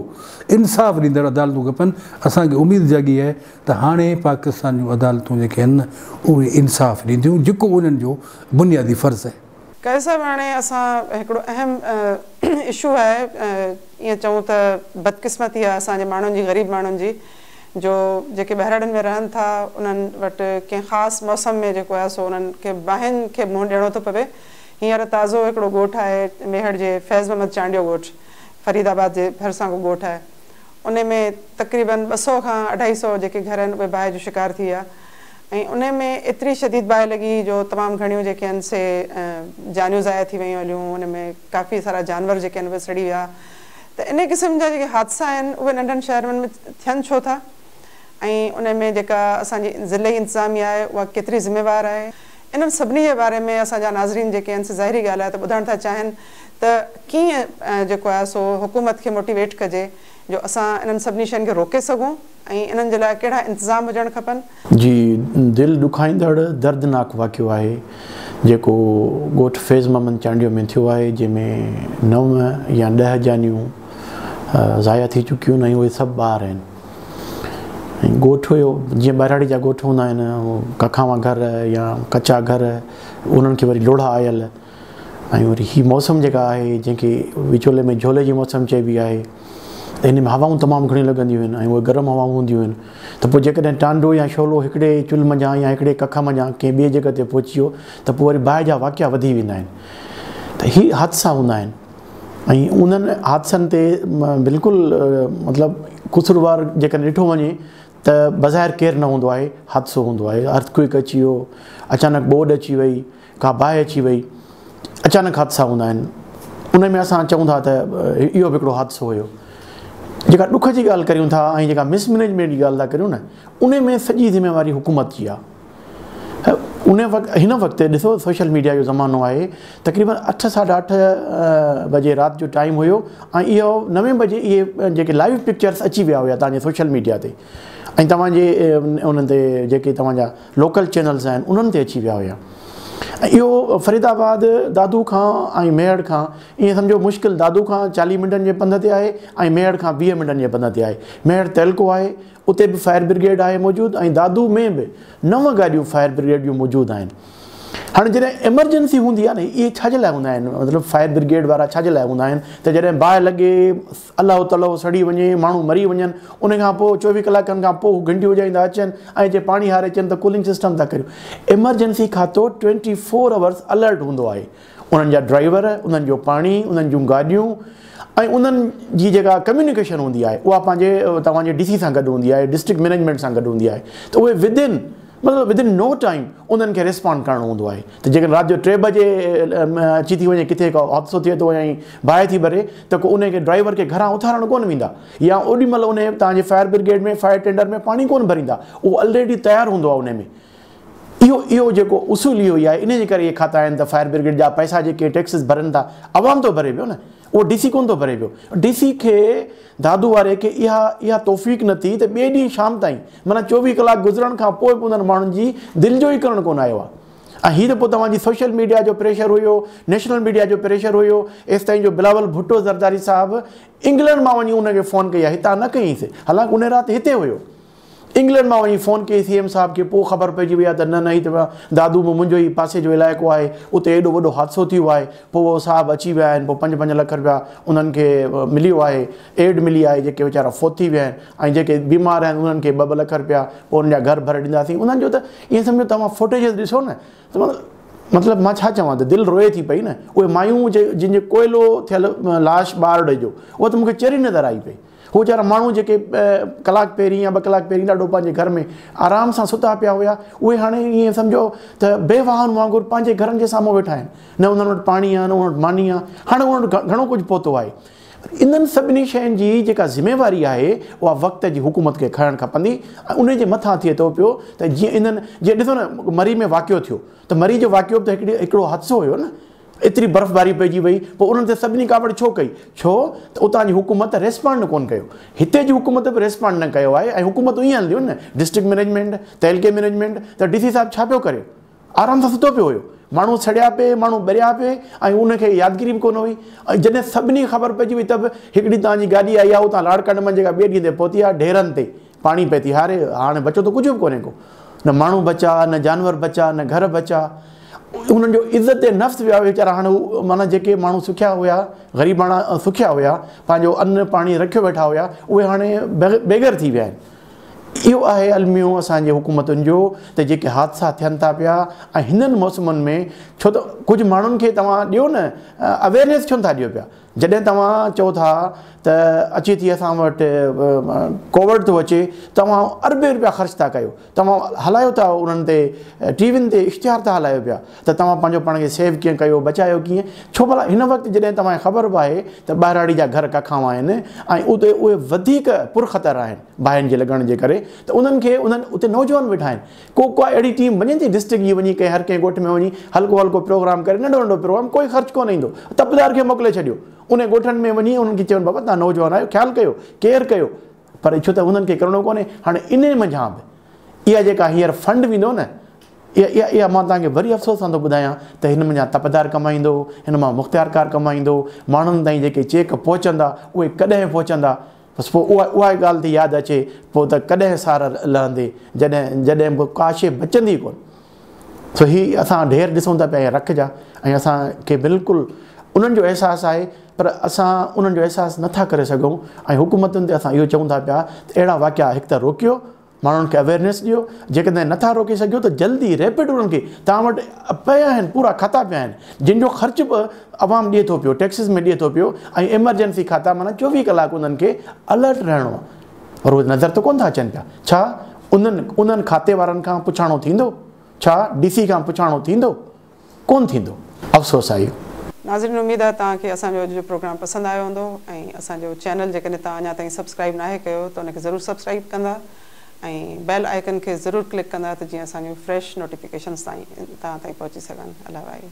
انصاف ڏيندڙ عدالتون کپن، اسان کي اميد جاڳي آهي ته هاڻي پاڪستان جون عدالتون جيڪي آهن اهي انصاف ڏينديون جيڪو انهن جو بنيادي فرض آهي. قيس صاحب هاڻي اسان هڪڙو اهم اشو آهي ائين چئون ته بدقسمتي آهي اسان جي ماڻهن جي غريب ماڻهن جي جو جيڪي ٻهراڙين ۾ رهن ٿا انهن وٽ ڪنهن خاص موسم ۾ جيڪو آهي سو انهن کي باهين کي منهن ڏيڻو ٿو پوي هينئر تازو هڪڙو ڳوٺ آهي ميهڙ جي فيض محمد چانڊيو ڳوٺ فريد آباد جي ڀرسان ڪو ڳوٺ آهي انهي ۾ تقريبن ٻه سؤ کان اڍائي سؤ جيڪي گهر آهن اهي باهه جو شڪار ٿي ويا ۽ انهي ۾ ايتري شديد باهه لڳي جو تمام گهڻيون جيڪي آهن سي جانيون ضايع ٿي ويون هليون انهي ۾ ڪافي سارا جانور جيڪي آهن اهي سڙي ويا ته انهي قسم جا جيڪي حادثا آهن اهي ننڍن شهرن ۾ ٿين ڇو ٿا ۽ انهي ۾ جيڪا اسان جي ضلعي انتظاميه آهي اها ڪيتري ذميوار آهي انهن سڀني جي باري ۾ اسان جا ناظرين جيڪي آهن سي ظاهري ڳالهه آهي ته ٻڌڻ ٿا چاهين ته ڪيئن جيڪو آهي سو حڪومت کي موٽيويٽ ڪجي جو اسان انهن سڀني شين کي روڪي سگهون. ۽ انهن جي لاء ڪهڙا انتظام هجڻ کپن؟ جي دل ڏکائيندڙ دردناڪ واقعو آهي جيڪو ڳوٺ فيض محمد چانڊيو ۾ ٿيو آهي جنهن ۾ نو يا ڏهه جانيون ضايع ٿي چڪيون آهن ۽ اهي سڀ ٻار آهن ۽ ڳوٺ هيو جيئن ٻهراڙي جا ڳوٺ هوندا آهن ڪکاوا گهر يا ڪچا گهر انهن کي وري لوڙها آيل ۽ وري هي موسم جيڪا آهي جنهن کي وچولي ۾ جهولي جي موسم چئبي آهي ته ان ۾ هوائون تمام گهڻيون لڳنديون آهن ۽ اهي گرم هوائون هونديون آهن ته پوء جيڪڏهن ٽانڊو يا شعلو هڪڙي چلهه منجهان يا هڪڙي ڪک منجهان ڪنهن ٻئي جڳهه تي پهچي ويو ته پوء وري باهه جا واقعا وڌي ويندا آهن ته هي حادثا هوندا آهن ۽ انهن حادثن تي بلڪل مطلب قصوروار جيڪڏهن ڏٺو وڃي ته بظاهر ڪير نه هوندو آهي حادثو هوندو آهي ارٿڪوئڪ اچي ويو اچانڪ ٻوڏ اچي وئي ڪا باهه اچي وئي اچانڪ حادثا هوندا آهن ان ۾ اسان چئون ٿا ته اهو به هڪڙو حادثو هيو جيڪا ڏک جي ڳالهه ڪريون ٿا ۽ جيڪا مس مينيجمينٽ جي ڳالهه ٿا ڪريون نه ان ۾ سڄي ذميواري حڪومت جي آهي ان وقت هن وقت ڏسو سوشل ميڊيا جو زمانو آهي تقريبن اٺ ساڍا اٺ بجي رات جو ٽائيم هيو ۽ اهو نوي بجي اهي جيڪي لائيو پڪچرس اچي ويا هيا تنهنجي سوشل ميڊيا تي ۽ توهان جي انهن تي جيڪي توهان جا لوڪل چينلز آهن انهن تي اچي ويا هيا ۽ اهو فريد آباد دادو کان ۽ ميهڙ کان ائين سمجهو مشڪل دادو کان چاليهه منٽن جي پنڌ تي آهي ۽ ميهڙ کان ويهه منٽن جي پنڌ تي آهي ميهڙ تعلقو آهي اتي به فائر برگيڊ آهي موجود ۽ دادو ۾ به نو گاڏيون فائر برگيڊ جون موجود آهن هاڻي جڏهن ايمرجنسي هوندي آهي نه اهي ڇا جي لاء هوندا آهن مطلب فائر برگيڊ وارا ڇا جي لاء هوندا آهن ته جڏهن باهه لڳي الله تلو سڙي وڃي، ماڻهو مري وڃن، ان کان پوء چوويهه ڪلاڪن کان پوء هو گهنٽي وڄائيندا اچن ۽ جي پاڻي هاري اچن ته ڪولنگ سسٽم ٿا ڪريون. ايمرجنسي کاتو ٽوئنٽي فور اورز الرٽ هوندو آهي. انهن جا ڊرائيور، انهن جو پاڻي، انهن جون گاڏيون ۽ انهن جي جيڪا ڪميونيڪيشن هوندي آهي اها پنهنجي توهان جي ڊي سي سان گڏ هوندي آهي، ڊسٽرڪٽ مئنيجمينٽ سان گڏ هوندي آهي ته اهي ودن مطلب ودن نو ٽائيم انهن کي ريسپانڊ ڪرڻو هوندو آهي ته جيڪڏهن رات جو ٽي بجي اچي ٿي وڃي ڪٿي ڪو حادثو ٿئي ٿو ۽ باهه ٿي ٻري ته ڪو ان کي ڊرائيور کي گهران اٿارڻ ڪونه ويندا يا اوڏي مهل ان تان جي فائر برگيڊ ۾ فائر ٽينڊر ۾ پاڻي ڪونه ڀريندا اهو الريڊي تيار هوندو آهي ان ۾ اهو اهو جيڪو اصول اهو ئي آهي ان جي ڪري اهي کاتا آهن ته فائر برگيڊ جا پئسا جيڪي ٽيڪسز ڀرن ٿا عوام ٿو ڀري پيو نه اهو ڊي سي ڪونه ٿو ڀري پيو. ڊي سي کي دادو واري کي اها اها توفيق نه ٿي ته ٻئي ڏينهن شام تائين معنيٰ چوويهه ڪلاڪ گذرڻ کان پوء به انهن ماڻهن جي دل جو ئي ڪرڻ ڪونه آيو آهي ۽ هي ته پوء توهان جي سوشل ميڊيا جو پريشر هيو نيشنل ميڊيا جو پريشر هيو ايستائين جو بلاول ڀٽو زرداري صاحب انگلنڊ مان وڃي ان کي فون ڪئي آهي هتان نه ڪيائينس حالانڪ ان رات هتي هيو. انگلنڊ مان وڃي فون ڪئي سي ايم صاحب کي پوء خبر پئجي وئي آهي ته نه نه هي ته دادو ۾ منهنجو ئي پاسي جو علائقو آهي اتي ايڏو وڏو حادثو ٿي ويو آهي پوء اهو صاحب اچي ويا آهن پوء پنج پنج لک رپيا انهن کي مليو آهي ايڊ ملي آهي جيڪي ويچارا فوت ٿي ويا آهن ۽ جيڪي بيمار آهن انهن کي ٻه ٻه لک رپيا پوء انهن جا گهر ڀري ڏينداسين انهن جو ته ائين سمجهو توهان فوٽيجز ڏسو نه ته مطلب مان ڇا چوان ته دل روئي ٿي پئي نه اهي مايون جن جو ڪوئلو ٿيل لاش ٻارڙي جو اهو ته مونکي چري نظر آئي پئي هو ويچارا ماڻهو جيڪي ڪلاڪ پهرين يا ٻه ڪلاڪ پهرين ڏاڍو پنهنجي گهر ۾ آرام سان ستا پيا هيا اهي هاڻي ائين سمجهو ته بي واهن وانگر پنهنجي گهرن جي سامهون ويٺا آهن نه انهن وٽ پاڻي آهي نه انهن وٽ ماني آهي هاڻي انهن وٽ گهڻو ڪجهه پهتو آهي پر انهن سڀني شين جي جيڪا ذميواري آهي اها وقت جي حڪومت کي کڻڻ کپندي ۽ انهي جي مٿان ٿئي ٿو پيو ته جيئن انهن جيئن ڏسو نه مري ۾ واقعو ٿيو ته مري جو واقعو به ته هڪڙو حادثو هيو نه ايتري برفباري پئجي وئي پوء انهن تي سڀني ڪاوڙ ڇو ڪئي؟ ڇو ته اتان جي حڪومت ريسپانڊ ڪونه ڪيو. هتي جي حڪومت به ريسپانڊ نه ڪيو آهي ۽ حڪومتون ائين هلنديون نه ڊسٽرڪٽ مئنيجمينٽ، تعلقي مئنيجمينٽ ته ڊي سي صاحب ڇا پيو ڪري؟ آرام سان ستو پيو هيو. ماڻهو سڙيا پي، ماڻهو ٻريا پي ۽ ان کي يادگيري به ڪونه هئي ۽ جڏهن سڀني کي خبر پئجي وئي ته به هڪ ڏينهن توهان جي گاڏي آئي آهي اتان لاڙڪاڻي مان جيڪا ٻئي ڏينهن تي پهتي آهي ڍيرن تي پاڻي پئي ٿي هاري، هاڻ بچو ته ڪجهه به ڪونهي ڪو. نه ماڻهو بچا، نه جانور بچا، نه گهر بچا. انهن جو عزت نفس ويا ويچارا هاڻ هو معنيٰ جيڪي ماڻهو سکيا هيا، غريباڻا سکيا هيا، پنهنجو ان پاڻي رکيو ويٺا هيا، اهي هاڻي بيگهر ٿي ويا آهن. اهو آهي الميو اسان جي حڪومتن جو ته جيڪي حادثا ٿين ٿا پيا ۽ هنن موسمن ۾ ڇو ته ڪجهه ماڻهن کي توهان ڏيو نه Awareness ڇو نٿا ڏيو پيا. جڏهن توهان چئو ٿا ته اچي ٿي اسان وٽ ڪووڊ ٿو اچي توهان اربين روپيا خرچ ٿا ڪيو توهان هلايو ٿا انهن تي ٽي وين تي اشتهار ٿا هلايو پيا ته توهان پنهنجو پاڻ کي سيو ڪيئن ڪيو بچايو ڪيئن ڇو ڀلا هن وقت جڏهن توهان کي خبر به آهي ته ٻهراڙي جا گهر ڪکاوا آهن ۽ اتي اهي وڌيڪ پر خطر آهن باهين جي لڳڻ جي ڪري ته انهن کي انهن اتي نوجوان ويٺا آهن ڪو ڪا اهڙي ٽيم وڃي ٿي ڊسٽرڪٽ جي وڃي ڪنهن هر ڪنهن ڳوٺ ۾ وڃي هلڪو هلڪو پروگرام ڪري ننڍو ننڍو پروگرام ڪوئي خرچ ڪونه ايندو تپدار کي موڪلي ڇڏيو انهن ڳوٺن ۾ وڃي انهن کي چئون بابا تان نوجوان آهيو خيال ڪيو ڪيئر ڪيو پر ڇو ته انهن کي ڪرڻو ڪونهي هاڻي انهي منجهان به اها جيڪا هينئر فنڊ ويندو نه اها اها اها مان توهان کي وري افسوس سان ٿو ٻڌايان ته هن منجهان تپدار ڪمائيندو هن مان مختيارڪار ڪمائيندو ماڻهن تائين جيڪي چيڪ پهچندا اهي ڪڏهن پهچندا بس پوء اها ئي ڳالهه ٿي ياد اچي، پوء ته ڪڏهن سار لهندي، جڏهن جڏهن به ڪا شيء بچندي ڪونه. سو هي اسان ڍير ڏسون ٿا پيا ۽ رک جا ۽ اسان کي بلڪل انهن جو احساس آهي، پر اسان انهن جو احساس نه ٿا ڪري سگهون ۽ حڪومتن تي اسان اهو چئون ٿا پيا ته اهڙا واقعا هڪ ته روڪيو، ماڻهن کي اويرنيس ڏيو جيڪڏهن نٿا روڪي سگهيو ته جلدي ريپڊ انهن کي توهان وٽ پيا آهن پورا کاتا پيا آهن جن جو خرچ به عوام ڏي ٿو پيو ٽيڪسز ۾ ڏي ٿو پيو ۽ ايمرجنسي کاتا معنيٰ چوويهه ڪلاڪ انهن کي الرٽ رهڻو آهي روز نظر ته ڪونه ٿا اچن پيا ڇا انهن انهن کاتي وارن کان پڇاڻو ٿيندو ڇا ڊي سي کان پڇاڻو ٿيندو ڪون ٿيندو افسوس آهي. ناظرين اميد آهي توهان کي اسان جو اڄ جو پروگرام پسند آيو هوندو ۽ اسان جو چينل جيڪڏهن توهان اڃا تائين سبسڪرائيب ناهي ڪيو ته ان کي ضرور سبسڪرائيب ڪندا ۽ بيل آئيڪن کي ضرور ڪلڪ ڪندا ته جيئن اسان جون فريش نوٽيفڪيشنز توهان تائين پهچي سگهن الائي